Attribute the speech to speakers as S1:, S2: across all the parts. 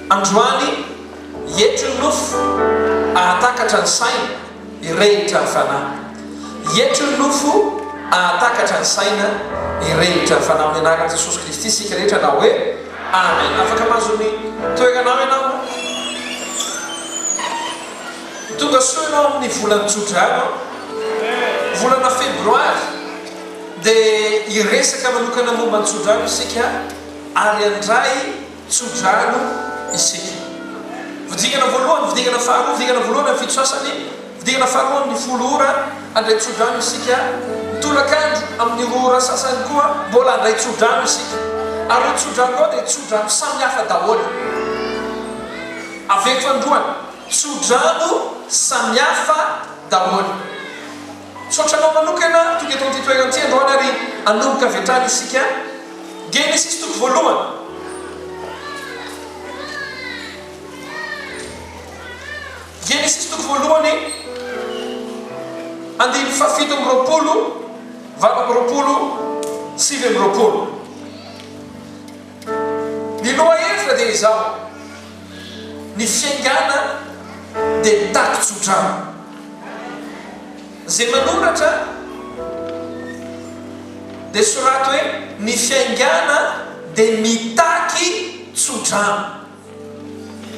S1: Androany, hietry ny nofo, ahatakatra ny saina, hirehitra ny fanahy. Hietry ny nofo, ahatakatra ny saina, hirehitra ny fanahy. Amin'ny anaran'i Jesosy Kristy isika rehetra na hoe Amen. Afaka mahazo ny toeranao ianao? Tonga soa ianao amin'ny volan'ny Jona ianao, volana Febroary. Dia hiresaka manokana momba ny tsodrano isika ary handray tsodrano isika. Fidingana voalohany, fidingana faharoa, fidingana voalohany amin'ny fito sasany, fidingana faharoa amin'ny folo ora, handray tsodrano isika. Ny tolakandro amin'ny roa ora sasany koa mbola handray tsodrano isika. Ary ireo tsodrano ireo dia tsodrano samihafa daholo. Averiko androany, tsodrano samihafa daholo. Misaotra anao manokana tonga eto amin'ity toerana ity androany ary hanomboka avy hatrany isika Genesisy toko voalohany. Genesisy toko voalohany andininy fahafito amby roapolo valo amby roapolo sivy amby roapolo. Ny lohahevitra dia izao, ny fiaingàna dia mitaky tsodrano. Izay manoratra dia soraty hoe, ny fiaingàna dia mitaky tsodrano.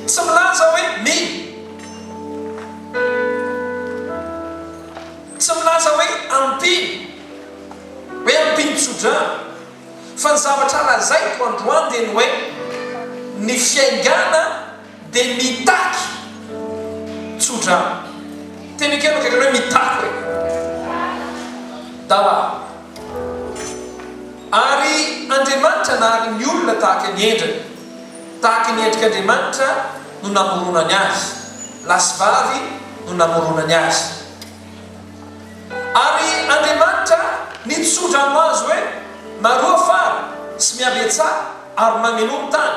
S1: Tsy milaza hoe mino. Tsy milaza hoe ampino, hoe ampino tsodrano. Fa ny zavatra lazaiko androany dia ny hoe, ny fiaingàna dia mitaky tsodrano. Teny akaiky anao akaikinao hoe, mitaky hoe. Dala. Ary Andriamanitra nahary ny olona tahaka ny endriny, tahaka ny endrik'Andriamanitra no namoronany azy, lahy sy vavy no namoronany azy. Ary Andriamanitra nitso-dra ho azy hoe, Maroa fara, sy mihabetsaha, ary mamenoa ny tany,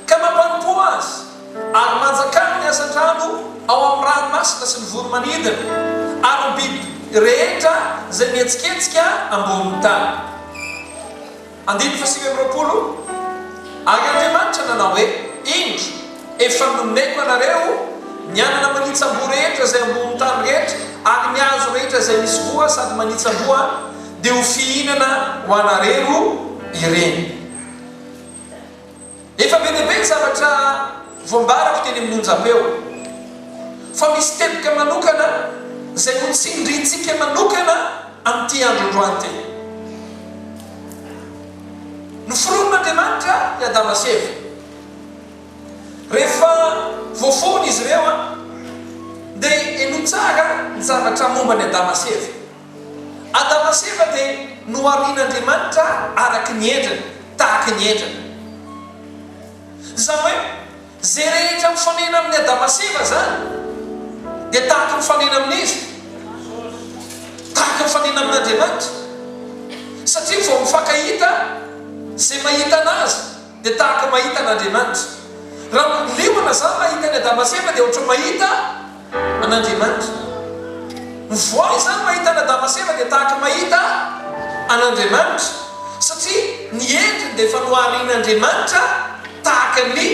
S1: ka mampanompò azy, ary manjakà ny hazan-drano ao amin'ny ranomasina sy ny voro-manidina, ary ny biby rehetra izay mihetsiketsika ambonin'ny tany. Andininy fahasivy amby roapolo, Ary Andriamanitra nanao hoe, Indro, efa nomeko anareo ny hanana manitsam-boa rehetra izay ambonin'ny tany rehetra, ary ny hazo rehetra izay misy voa sady manitsam-boa, dia ho fihinana ho anareo ireny. Efa be dia be ny zavatra voambarako teny amin'ny onjam-peo, fa misy teboka manokana izay ho tsindrintsika manokana amin'ity andro androany ity. Noforonin'Andriamanitra i Adama sy Eva. Rehefa voaforona izy ireo, dia henoy tsara ny zavatra momba an'i Adama sy Eva. Adama sy Eva dia noharian'Andriamanitra araka ny endriny, tahaka ny endriny. Izany hoe, izay rehetra mifanena amin'i Adama sy Eva izany dia tahaka mifanena amin'iza? Tahaka mifanena amin'Andriamanitra. Satria vao mifankahita, izay mahita an'azy dia tahaka mahita an'Andriamanitra. Raha liona zah mahita an'i Adama sy Eva dia ohatran'ny mahita an'Andriamanitra. Ny voay izany mahita an'Adama sy Eva dia tahaka ny mahita an'Andriamanitra, satria ny endriny dia efa noharian'Andriamanitra tahaka ny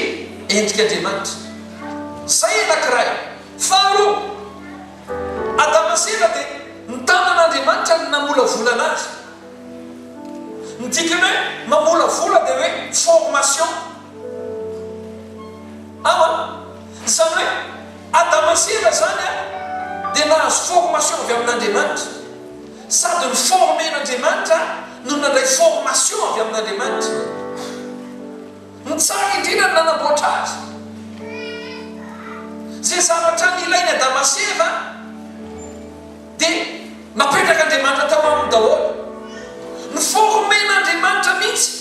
S1: endrik'Andriamanitra. Izay anankiray. Faharoa, Adama sy Eva dia ny tanan'Andriamanitra no namolavola anazy. Ny dikan'ny hoe mamolavola dia hoe formation. Ao an. Izany hoe Adama sy Eva izany dia nahazo formation avy amin'Andriamanitra, sady no former-n'Andriamanitra no nandray formation avy amin'Andriamanitra. Ny tsara indrindra no nanamboatra azy. Izay zavatra nilain'i Adama sy Eva. Dia napetrak'Andriamanitra tao aminy daholo. Ni-former-n'Andriamanitra mihitsy.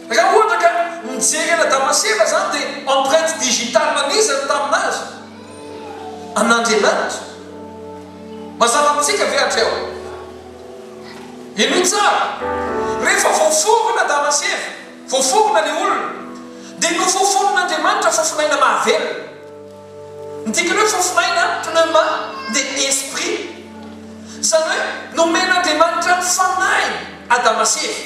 S1: Raha ohatra ka mijery an' Adama sy Eva izany dia empreinte digitale an'iza no tamin'azy? An'Andriamanitra. Mazava amintsika ve hatreo? Henoy tsara. Rehefa voaforona Adama sy Eva, voaforona ilay olona, dia nofofonin'Andriamanitra fofon'aina mahavelona. Midika ny hoe fofo maina, pneuma, dia esprit. Izany hoe nomen'Andriamanitra ny fanahiny Adama sy Eva.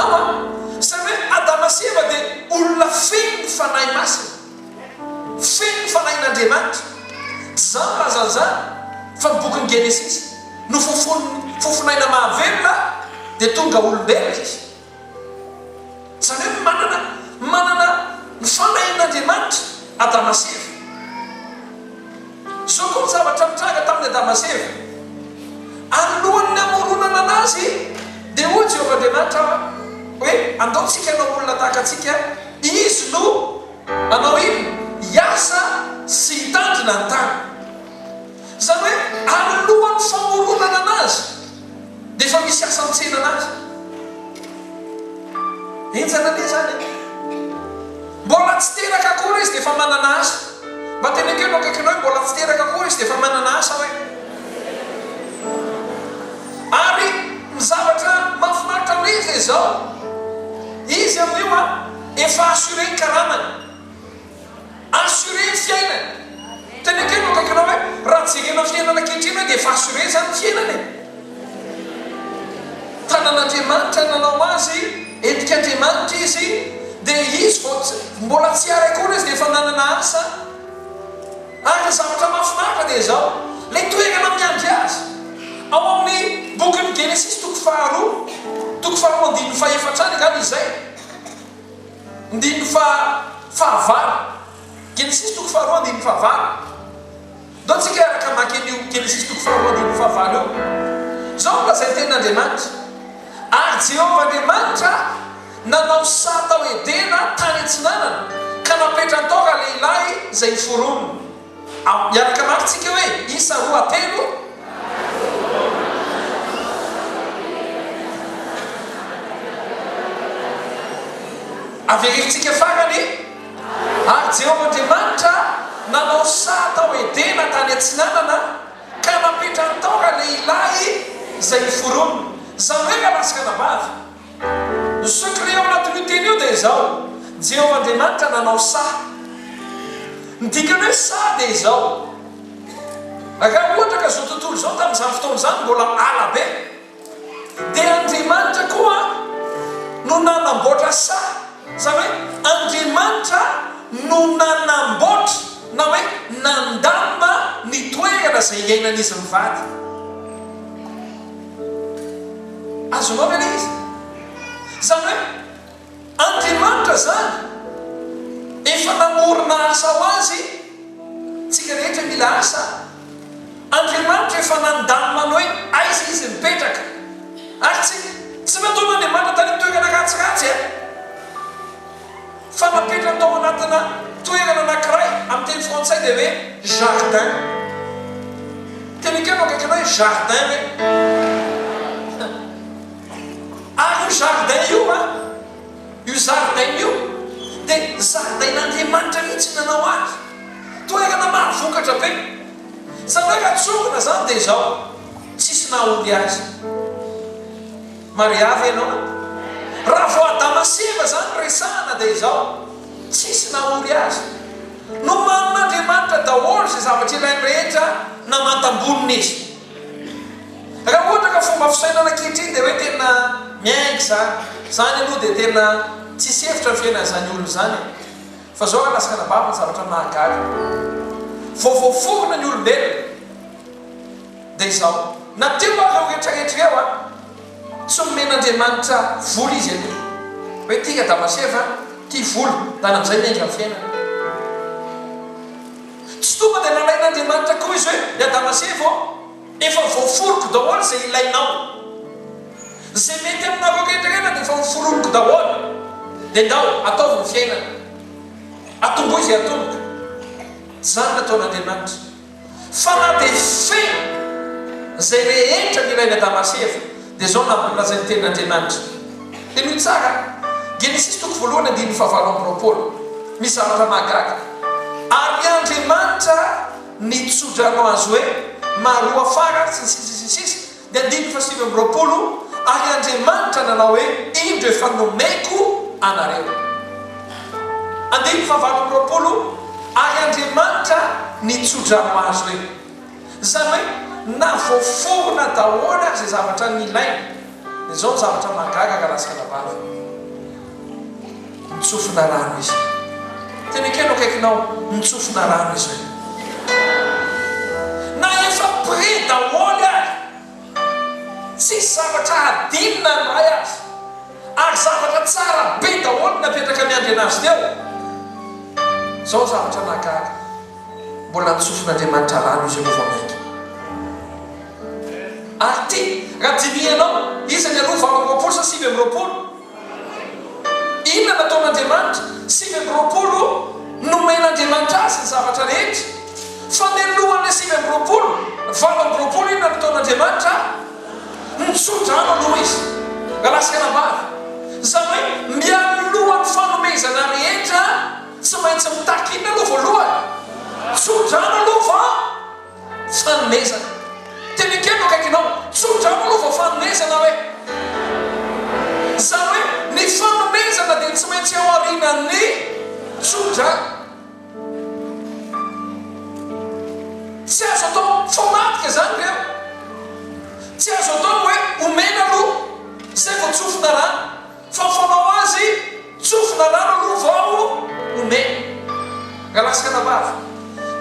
S1: Angamba. Izany hoe Adama sy Eva dia olona feno ny Fanahy Masina, feno ny Fanahin'Andriamanitra. Tsy izany filazan'izany, fa ny bokin'ny Genesisy, Nofofonin'ny fofon'aina mahavelona dia tonga olombelona izy. Izany hoe manana manana ny fanahin'Andriamanitra Adama sy Eva. Izao koa ny zavatra nitranga tamin'i Adama sy Eva. Alohan'ny hamoronana anazy dia hoy Jehovah Andriamanitra hoe, Andao tsika hanao olona tahaka antsika, izy no hanao inona? Hiasa sy hitandrina ny tany. Izany hoe alohan'ny famoronana anazy. Nefa misy asa an-tsena anazy. Enjana anie zany e! Mbola tsy teraka akory izy dia efa manana asa. Mba teneniko eo akaikinao hoe mbola tsy teraka akory izy dia efa manana asa hoe. Ary ny zavatra mahafinaritra an'ilay izy dia izao, izy amin'io an, efa assuré ny karamany. Assuré ny fiainany. Tena kely no akaikinao hoe raha jerena ny fiainana ankehitriny hoe dia efa assuré izany ny fiainana e. Tanan'Andriamanitra nanao azy, endrik'Andriamanitra izy, dia izy vao mbola tsy ary akory izy dia efa nanana asa. Ary ny zavatra mahafinaritra dia izao, ilay toerana miandry azy. Ao amin'ny bokin'ny Genesisy toko faharoa, toko faharoa andininy fahefatra any angamba izay. Andininy faha fahavalo, Genesisy toko faharoa andininy fahavalo. Ndao tsika hiaraka hamaky an'io Genesisy toko faharoa andininy fahavalo io. Izao no lazain'ny tenin'Andriamanitra, Ary Jehovah Andriamanitra nanao saha tao Edena tany atsinanana, ka napetrany tao ralehilahy izay hoforoniny. Am, miaraka mafy tsika hoe, Isa, roa, telo. Averentsika farany, Ary Jehovah Andriamanitra nanao saha tao Edena tany atsinanana, ka napetrany tao ralehilahy izay noforoniny, izany hoe ralahy sy ranabavy. Ny secret ao anatin'io teny io dia izao, Jehovah Andriamanitra nanao saha. Ny dikan'ny hoe saha dia izao, raha ohatra ka izao tontolo izao tamin'izany fotoana izany mbola ala be, dia Andriamanitra koa no nanamboatra saha, izany hoe Andriamanitra no nanamboatra na hoe nandamina ny toerana izay iainan'izy mivady. Azonao ve ilay izy? Izany hoe Andriamanitra izany efa namorona asa ho azy tsika rehetra mila asa Andriamanitra efa nandamina ny hoe aiza izy mipetraka ary tsy tsy nataon'Andriamanitra tany amin'ny toerana ratsiratsy a! Fa napetrany tao anatina toerana anankiray amin'ny teny frantsay dia hoe jardin. Teny ekena eo akaikinao hoe jardin ve? Ary io jardin io a, io zaridaina io dia zaridain'Andriamanitra mihitsy ny nanao azy. Toerana mahavokatra be. Izany hoe raha tsongona izany dia izao, tsisy nahaory azy. Maria ve ianao? Raha vao Adama sy Eva izany no resahana dia izao, tsisy nahory azy. Nomanin'Andriamanitra daholo izay zavatra ilainy rehetra na mantam-bonona izy. Raha ohatra ka fomba fisainana ankehitriny dia hoe tena miainga izany. Izany aloha dia tena tsisy hevitra ny fiainan'izany olona izany e. Fa izao raha lasa anabavy ny zavatra mahagaga. Vao voaforona ny olombelona. Dia izao, na teo ary ireo rehetra rehetra ireo an! Tsy nomen'Andriamanitra vola izy anie. Hoe tia Adama sy Eva tia vola, lany amin'izay ny aingan'ny fiainana. Tsy tonga dia nalain'Andriamanitra koa izy hoe, ry Adama sy Eva ô, efa voaforoko daholo izay ilainao. Izay mety aminareo rehetra rehetra dia efa noforoniko daholo. Dia ndao, ataovy ny fiainana. Atomboy izay atomboka. Tsy izany nataon'Andriamanitra. Fa na dia feno izay rehetra ny Rain'i Adama sy Eva, dia izao no avy nolazain'ny Tenin' Andriamanitra. Henoy tsara, Genesisy toko voalohany andininy fahavalo amby roapolo, Misy zavatra mahagaga. Ary Andriamanitra nitsodrano azy hoe, Maroafara, sy ny sisa sy ny sisa. Ny andininy fahasivy amby roapolo, Ary Andriamanitra nanao hoe, Indro efa nomeko anareo. Andininy fahavalo amby roapolo, Ary Andriamanitra nitso-drano azy hoe. Izany hoe na voaforona daholo ary izay zavatra nilainy. Dia izao ny zavatra mahagaga raha latsaka anabavy. Nitsofina rano izy. Tena ekena eo akaikinao, Nitsofina rano izy hoe. Na efa près daholo ary, tsisy zavatra hadinina ny Ray aza, ary zavatra tsara be daholo no napetraka miandriana Azy teo. Izao ny zavatra nahagaga, mbola nitsofin'Andriamanitra rano izy eo vao mainka. Ary ity, raha dinihinao, iza ny alou valo amby roapolo sa sivy amby roapolo? Inona no ataon'Andriamanitra? Sivy amby roapolo Nomen'Andriamanitra azy ny zavatra rehetra. Fa mialohan'ilay sivy amby roapolo, valo amby roapolo inona no ataon'Andriamanitra? Nitsodrano aloha Izy. Galaska nambara. Izany hoe mialohan'ny fanomezana rehetra, tsy maintsy mitaky inona aloha voalohany? Tsodrano aloha vao. Fanomezana. Teny an-keno akaikinao. Tsotra ao aloha vao fanomezana hoe. Izany hoe ny fanomezana dia tsy maintsy ao aorianan'ny tsotra. Tsy azo atao famadika izany ry eo. Tsy azo atao ny hoe omena aloha izay vao tsofina rano. Fa fanao azy tsofina rano aloha vao omena. Ralaskana vavy,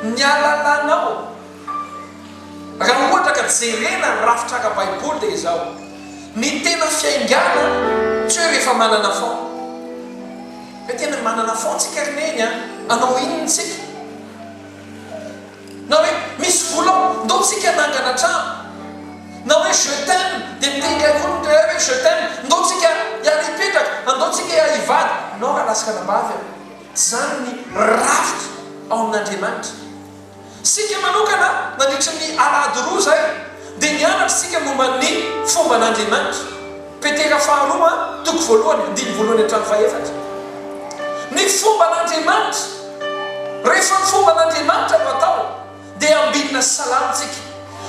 S1: ny alalanao, raha ohatra ka jerena ny rafitra ara-baiboly dia izao, ny tena fiaingàna tsy hoe rehefa manana fon. Hoe tena manana fon tsika ry neny a, hanao inona tsika? Na hoe misy vola ao, ndao tsika hanangana trano. Na hoe je t'aime, dia miteny indray koa ny mpiray hoe je t'aime, ndao tsika hiara hipetraka, andao tsika hiara hivady. Nao raha lasy anabavy aho. Tsy izany ny rafitra ao amin'Andriamanitra. Isika manokana, nandritry ny alahady roa izay, dia nianatra isika momba ny fomban'Andriamanitra. Petera faharoa, toko voalohany, andininy voalohany hatramin'ny fahefatra. Ny fomban'Andriamanitra, Rehefa ny fomban'Andriamanitra no atao, dia ambinina sy salamintsika.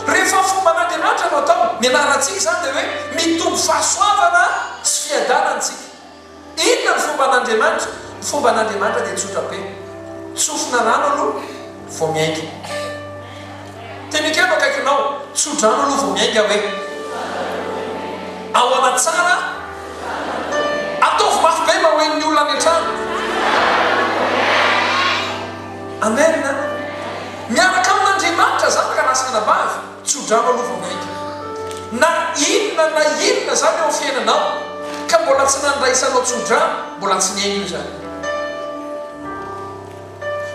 S1: Rehefa ny fomban'Andriamanitra no atao, ny anarantsika izany dia hoe mitombo fahasoavana sy fiadanana isika. Inona ny fomban' Andriamanitra? Ny fomban' Andriamanitra dia tsotra be. Tsofina rano aloha vao miainga. Dia mikeno akaikinao, tso-drano aloha vao miainga hoe. Ao anaty tsara Ataovy mafy be mba ho henon'ny olona any an-trano. Amen a! Miaraka amin' Andriamanitra zanaka lahy sy anabavy. Tso-drano aloha vao maika. Na inona na inona izany eo amin'ny fiainanao ka mbola tsy nandraisanao tso-drano, mbola tsy niaina io izany.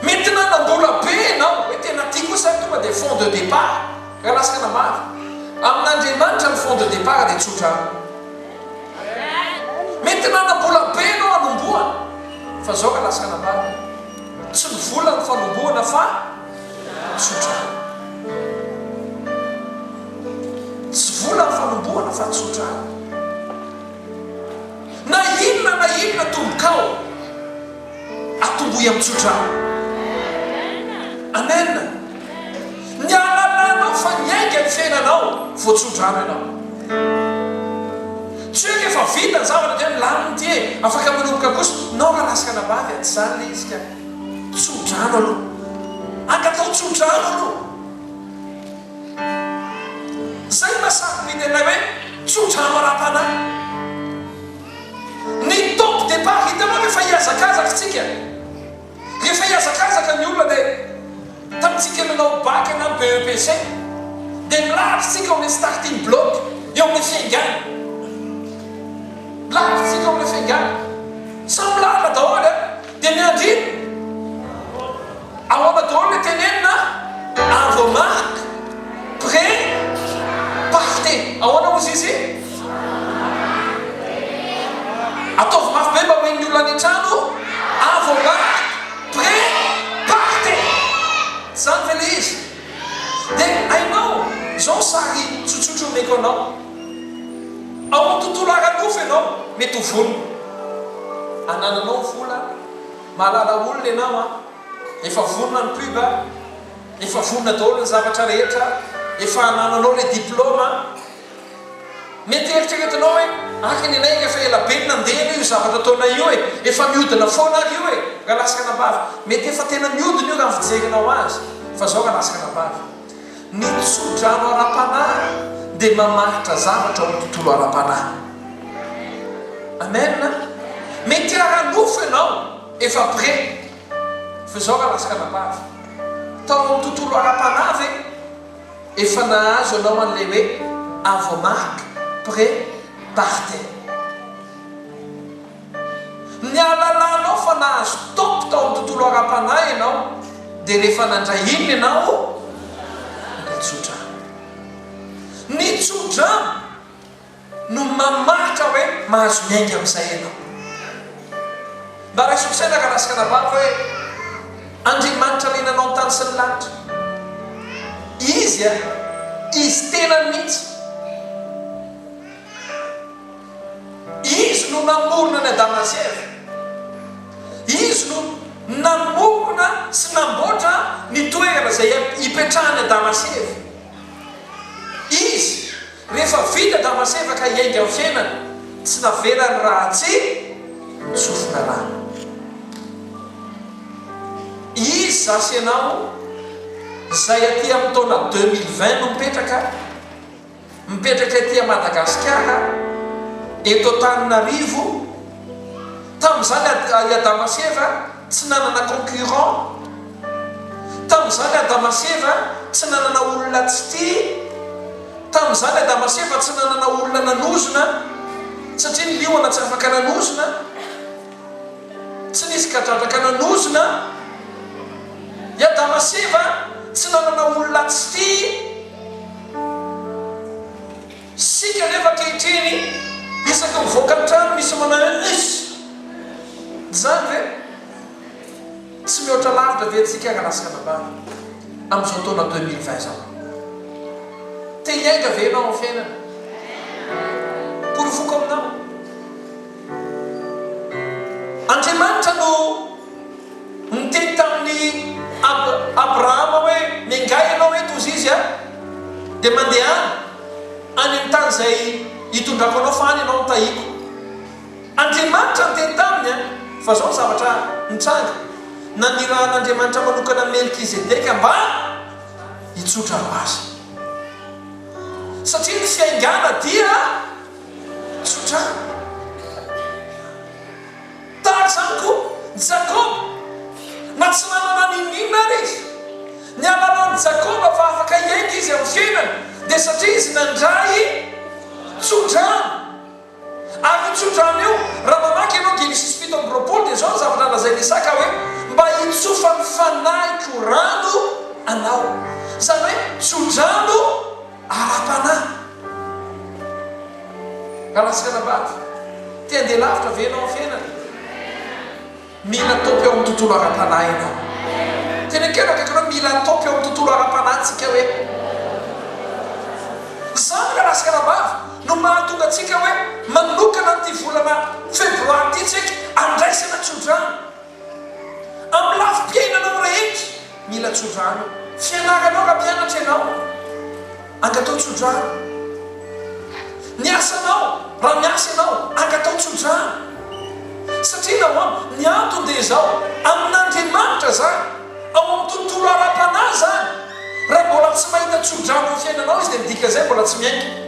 S1: Mety nanam-bola be ianao, hoe tena tiako koa izany, tonga dia fonds de départ, raha lasaka namaly. Amin'Andriamanitra ny fonds de départ dia tso-drano. Mety nanam-bola be ianao hanombohana, fa izao raha lasaka namaly. Tsy ny vola no fanombohana fa. tsotra any. Tsy vola ny fanombohana fa tsotra any. Na inona na inona tombokao, atombohy amin'ny tsotra any. Amen. Ny hahalalanao fa niainga ny fiainanao vao tsotra any ianao. Tsy hoe rehefa vita ny zavatra dia milamina ity e, afaka manomboka kosa, nao raha lasy anabavy a, tsy izany ilay izy ka. Tso-drano aloha. Ankatao tso-drano aloha. Izay no nahasarobidy anay hoe tso-drano ara-panahy. Ny top départ, hitanao rehefa hihazakazaka isika, rehefa hihazakazaka ny olona dia tamintsika nanao bac na BEPC dia mirary isika amin'ny starting block, eo amin'ny fiaingana. Mirary isika eo amin'ny fiaingana. Samy lalina daholo an! Dia ny andininy? Ahoana daholo ilay tenenina a? Avomark, pre, parte. Ahoana hozy izy? Ataovy mafy be mba ho henon'ny olona any an-trano, avomark, pre, parte. Izany ve ilay izy? Dia hainao, izao sary tsotsotra omeko anao. Ao amin'ny tontolo ara-nofo ianao mety ho vonona. Anananao vola, mahalala olona ianao an, efa vonona ny pub an, efa vonona daholo ny zavatra rehetra, efa anananao ilay diploma an. Mety eritreretinao hoe, araka ny anay efa ela be no nandeha anie io zavatra ataonay io e, efa mihodina foana ary io e, Ralasanabavy. Mety efa tena mihodina io raha ny fijerinao azy fa izao Ralasanabavy. Ny tsodrano ara-panahy dia mamaritra zavatra ao amin'ny tontolo ara-panahy. Amen. Mety ara-nofo ianao efa près, fa izao raha latsaka anabavy, tao amin'ny tontolo ara-panahy ve efa nahazo ianao an'ilay hoe avo marque, près, party. Ny ahalalanao fa nahazo top tao amin'ny tontolo ara-panahy ianao dia rehefa nandray inona ianao? Ny tsodrano. Ny tsodrano no mamaritra hoe mahazo miainga amin'izay ianao. Mba raiso an-tsaina ka lasika nabavy hoe Andriamanitra niainanao ny tany sy ny lanitra. Izy a! Izy tenany mihitsy. Izy no namorona an'i Adama sy Eva. Izy no namorona sy namboatra ny toerana izay hipetrahan'i Adama sy Eva. Izy, rehefa vita Adama sy Eva ka hiainga amin'ny fiainana, tsy navelany raha tsy nisofina rano. Izy, za sy ianao, izay aty amin'ny taona deux mille vingt no mipetraka, Mipetraka ety a Madagasikara, eto Antananarivo, tamin'izany a i Adama sy Eva tsy nanana concurrent, tamin'izany Adama sy Eva tsy nanana olona tsy tia, tamin'izany Adama sy Eva tsy nanana olona nanozona satria ny liona tsy afaka nanozona, tsy nisy kadradraka nanozona, i Adama sy Eva tsy nanana olona tsy tia. Isika anefa ankehitriny isaky mivoaka ny trano misy manao hoe Uss! Izany ve tsy mihoatra lavitra ve antsika ary laska anabavy amin'izao taona deux mille vingt izao? Te hiainga ve ianao amin'ny fiainana? Porofoko aminao. Andriamanitra no niteny tamin'i Abrahama hoe, Miangaly ianao eto hozy izy dia mandehana any amin'ny tany izay hitondrako anao fa any ianao no tahiko. Andriamanitra niteny taminy fa izao ny zavatra nitranga, nanirahan'Andriamanitra manokana Melkizedeka mba hitsotra ho azy. Satria ny fiaingàna dia. Tsotra tahaka izany koa i Jakoba, na tsy nanana n'inon'inona ary izy. Ny alalàn'i Jakoba fa afaka hiainga izy amin'ny fiainany dia satria izy nandray tso-drano. Ary io tso-drano io, raha mamaky ianao Genesisy fito amby roapolo dia izao ny zavatra lazain'i Isaka hoe, Mba hitsofan'ny fanahiko rano anao. Izany hoe tso-drano. Ara-panahy. Alaska na bado. Te handeha lavitra ve ianao amin'ny fiainana? Mila atopy ao amin'ny tontolo ara-panahy ianao. Tenekeno akaiky anao, mila atopy ao amin'ny tontolo ara-panahintsika hoe, izany ry alaska na bado no mahatonga antsika hoe manokana an'ity volana febroary ity tsika andraisana tsodrano amin'ny lafim-piainanao rehetra. Mila tsodrano fianaranao raha mpianatra ianao. Angatao tsodrano ny asanao raha miasa ianao. Angatao tsodrano satria nahoana? Ny antony dia izao, amin'Andriamanitra izany, ao amin'ny tontolo ara-panahy izany. Raha mbola tsy mahita tsodrano amin'ny fiainanao Izy dia midika izay mbola tsy miainga.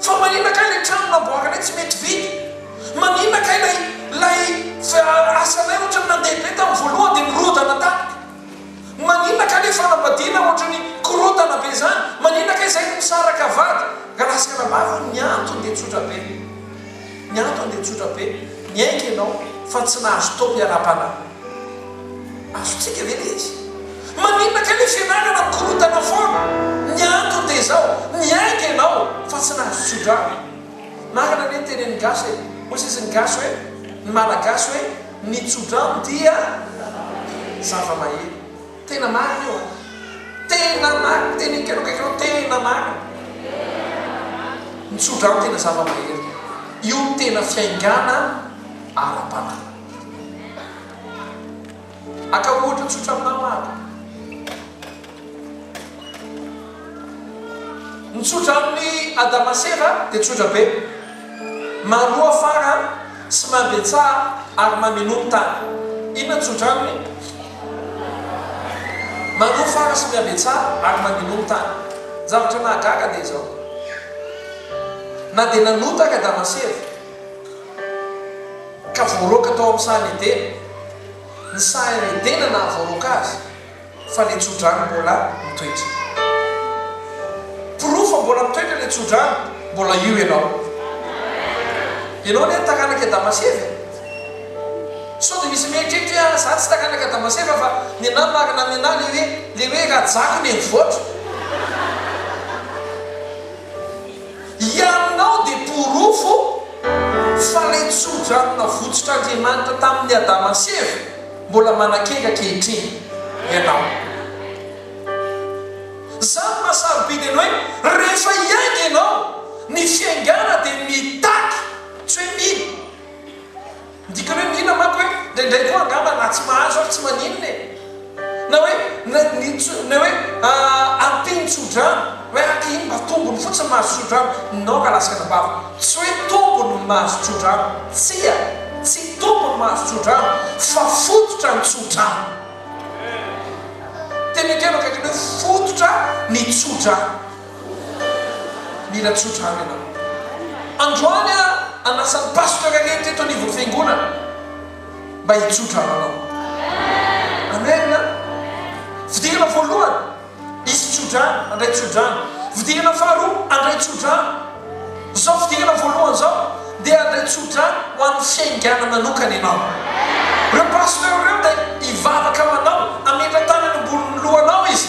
S1: Fa maninona kay ilay trano namboarinay tsy mety vita? Maninona kay ilay ilay asanay ohatran'ny nandeha be tamin'ny voalohany dia nirodana taminy? Maninona kay ilay fanambadiana ohatran'ny korontana be izany? Maninona kay izay no misaraka vady ka lasa anabavy hoy? Ny antony dia tsotra be, ny antony dia tsotra be, niaiky ianao fa tsy nahazo taom-piaraha-panahy. Azontsika ve ny izy? Maninona kay le fianarana korontana foana? Ny antony dia izao, niaiky ianao fa tsy nahazo tsodrano. Marina anie ny tenenin'ny gasy e! Hoy sisa ny gasy hoe, ny malagasy hoe, ny tsodrano dia zava-mahery. Tena marina io an! Tena marina ny tenin'i Keno kay Keno, tena marina. Ny tsodrano tena zava-mahery. Io tena fiaingàna ara-panahy. Aka ohatra tsotra aminao Aka. Ny tsotra amin'ny Adama sy Eva dia tsotra be. Maroa fara sy mambentsaha ary mamenoa ny tany. Inona no tsotra aminy? Maroa fara sy miambentsaha ary mamenoa ny tany. Ny zavatra mahagaga dia izao. Na dia nanota ary Adama sy Eva. ka voaroaka tao amin'ny saha Edena. Ny saha eo Edena nahavoaroaka azy fa ilay tsodrano mbola mitoetra. Porofo fa mbola mitoetra ilay tsodrano, mbola io ianao. Ianao anie taranak'i Adama sy Eva e! Sao dia misy mieritreritra hoe, izaho tsy taranak'i Adama sy Eva fa ny anà marina amin'ny anà ilay hoe, ilay hoe rajako nenivoatra. Hianao dia porofo fa ilay tso-drano navotsotr'Andriamanitra tamin'i Adama sy Eva mbola manakely ankehitriny ianao. Izany no maha sarobidy an'ny hoe rehefa hiainga ianao ny fiaingàna dia mitaky tsy hoe mino. Ny dikany hoe mila manko hoe indraindray koa angamba na tsy mahazo ary tsy maninona e! Na hoe na ny tso na hoe ampiany tsodrano hoe ah iny mba tombony fotsiny mahazo tsodrano non ka lasaka anabavy tsy hoe tombony ny mahazo tsodrano tsia tsy tombony mahazo tsodrano fa fototra ny tsodrano tena ekena akaiky ny hoe fototra ny tsodrano Mila tsotra ary ianao. Androany aho hanasa ny pasteur rehetra eto anivon'ny fiangonana mba hitsotra ary anao. Amen a! Fidirana voalohany, hisy tsodrano, handray tsodrano. Fidirana faharoa, handray tsodrano. Izao fidirana voalohany izao dia handray tsodrano ho an'ny fiaingana manokana ianao. Ireo pasteur ireo dia hivavaka ho anao, hametra-tany eny ambonin'ny lohanao izy,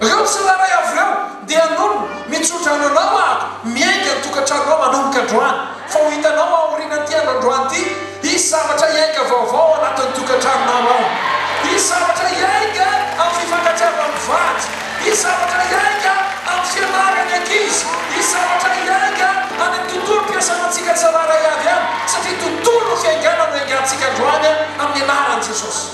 S1: Ireo tsirairay avy ireo dia hanonona, mitso-dra ananao aho, miainga ny tokantranonao manomboka androany, fa ho hitanao aorianan'ity andro androany ity, hisy zavatra hiainga vaovao ao anatin'ny tokantranonao ao. Hisy zavatra hiainga amin'ny fifankatiavan'ny vady, hisy zavatra hiainga amin'ny fianaran'ny ankizy, hisy zavatra hiainga any amin'ny tontolom-piasanantsika tsirairay avy any, satria tontolon'ny fiaingàna no iaingantsika androany amin'ny anaran'i Jesosy.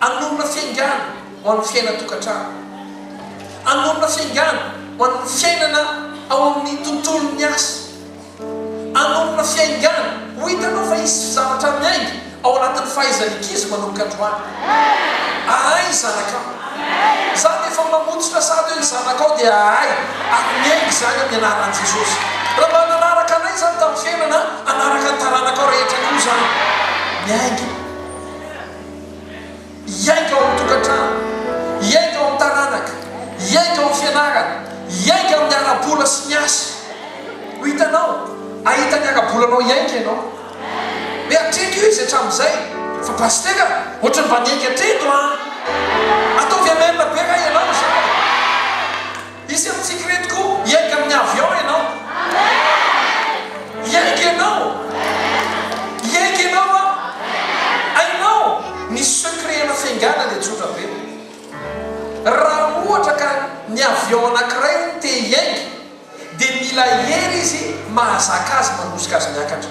S1: Hanorina fiaingàna ho an'ny fiainan-tokantrano. Hanorina fiaingàna ho an'ny fiainana ao amin'ny tontolon'ny asa. Hanorina fiaingàna ho hitanao fa hisy zavatra miainga ao anatin'ny fahaizan'ny ankizy manomboka androany. Ahay ny zanakao. Izaho rehefa mamotsitra sary hoe ny zanakao dia ahay ary miainga izany amin'ny anaran'i Jesosy. Raha mba nanaraka anay izany tamin'ny fiainana, hanaraka ny taranakao rehetra koa izany. Miainga. Hiainga ao amin'ny tokantrano, hiainga ao amin'ny taranaka, hiainga ao amin'ny fianarana, hiainga amin'ny ara-bola sy ny asa. Ho hitanao, hahita ny ara-bolanao hiainga ianao. Hoe hatreko izy hatramin'izay, fa Pasitera, ohatry ny mba niainga hatreto an! Ataovy Amen be raha ianao izany. Hisy amintsika ireto koa hiainga amin'ny avion ianao. Hiainga ianao. Hiainga ianao an. Hainao ny secret ana fiaingana dia tsotra be. Raha ohatra ka ny avion anankiray hono te hiainga dia mila hery izy mahazaka azy mandosika azy miakatra.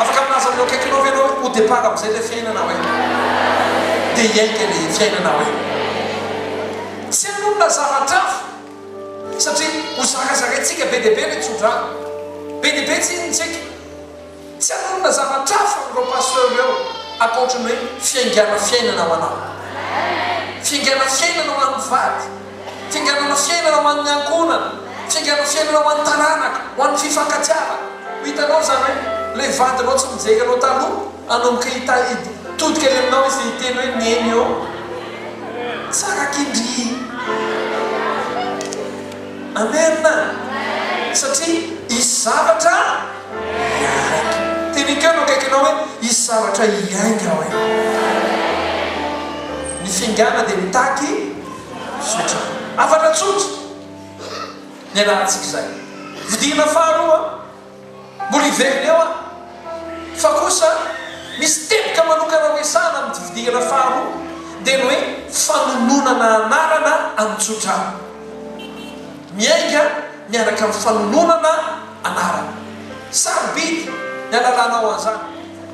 S1: Afaka milaza amin'ireo akaikinao ve ianao hoe ho départ amin'izay ilay fiainana hoe? Dia hiainga ilay fiainana hoe? Tsy hanomana zavatra hafa satria ho zakazakaintsika be dia be ilay tsodrano. Be dia be tsinintsika. Tsy hanonona zavatra hafa amin'ireo pasteur ireo ankoatry ny hoe fiaingana fiainana ho anao. Fiaingana fiainana ho an'ny vady. Tsingerenan'ny fiainana ho an'ny ankohonana, tsingerenan'ny fiainana ho an'ny taranaka, ho an'ny fifankatiavana. Ho hitanao izany hoe ilay vadinao tsy mijery anao taloha hanomboka hitodika eny aminao izy dia hiteny hoe neny ô, tsara kindry. Amen! Satria hisy zavatra hiainga. Tenekeo eo akaikinao hoe, hisy zavatra hiainga hoy. Ny fingana dia mitaky Zotra. Hafatra tsotra ny ialahantsika izay. Vidiana faharoa mbola hiverina eo an! Fa kosa misy teboka manokana resahana amin'ity vidiana faharoa dia ny hoe fanononana anarana an'i Tsotra. Miainga miaraka amin'ny fanononana anarana. Sarobidy ny halalanao an'izany.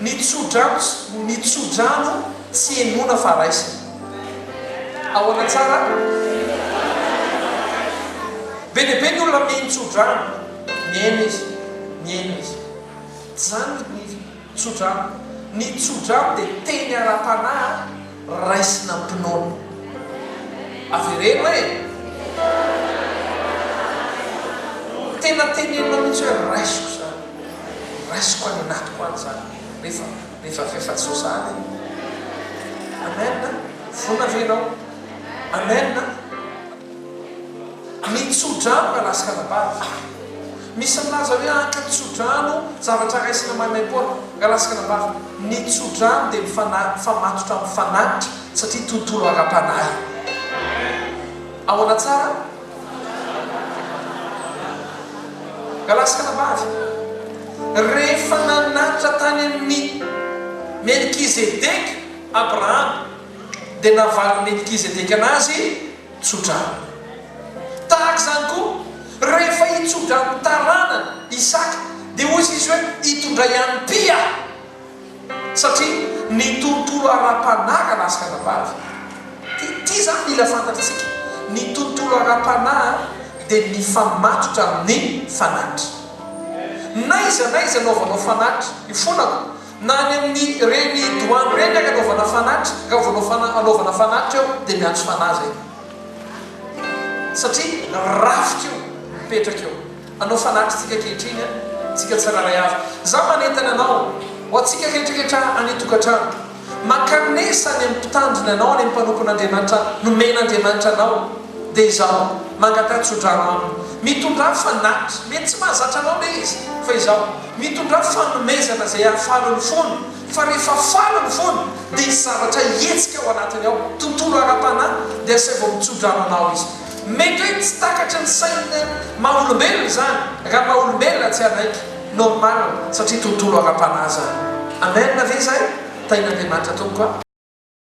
S1: Ny tso-drano Ny tso-drano tsy henoina fa raisina. Ahoana tsara? Be dia be ny olona mihaino tso-drano. Mihaino izy. Mihaino izy. Tsy izany ny tso-drano. Ny tso-drano dia teny ara-panahy. raisina am-pinoana. Avereno hoe. Tena tenenina mihitsy hoe raisiko izany. Raisiko any anatiko any izany rehefa rehefa rehefa tsy ho za le. Amen a! Vonona ve ianao? Amen a! Ny tsodrano na lasika-anabavy. Misy milaza hoe haka tsodrano zavatra raisina maimaim-poana, nga lasika-anabavy. Ny tsodrano dia ny fanahy mifamatotra amin'ny fanatitra satria tontolo ara-panahy. Ahoana tsara? Nga lasika-anabavy. Rehefa nanatitra tany amin'i Melkizedeka Abrahama, dia navalin'i Melkizedeka anazy. Tso-drano. Tahaka izany koa, rehefa hitso-drano ny taranany, Isaka, dia hoy izy hoe, Hitondray an'i Pia aho. Satria ny tontolo ara-panahy ka lasa anabavy. Dia ity izany mila fantatr'isika, ny tontolo ara-panahy dia mifamatotra amin'ny fanatitra. N'aiza n'aiza anaovanao fanatitra, ifonako, Na any amin'ny reny douane reny ary anaovana fanatitra, raha vao manao fana- anaovana fanatitra eo dia miantso fanahy zay. Satria rafitra io mipetraka eo. Anao fanatitra tsika ankehitriny an, tsika tsirairay avy. Za manentana anao, ho antsika rehetrarehetra any an-tokantrano, mankanesa any amin'ny mpitandrina anao, any amin'ny mpanompon'Andriamanitra nomen'Andriamanitra anao, Dia izao, mangataha tsodrano aminy. Mitondrà fanahy. Mety tsy mahazatra anao ilay izy, fa izao, mitondrà fanomezana izay hahafaly ny fony, fa rehefa faly ny fony, dia hisy zavatra hihetsika ao anatiny ao, tontolo ara-panahy, dia asaivo mitsodrano anao izy. Mety hoe tsy takatry ny sain'ny maha-olombelona izany, raha maha-olombelona tsy hanaiky, normal, satria tontolo ara-panahy izany. Amen ve izay? Tahin'Andriamanitra, Tompoko a.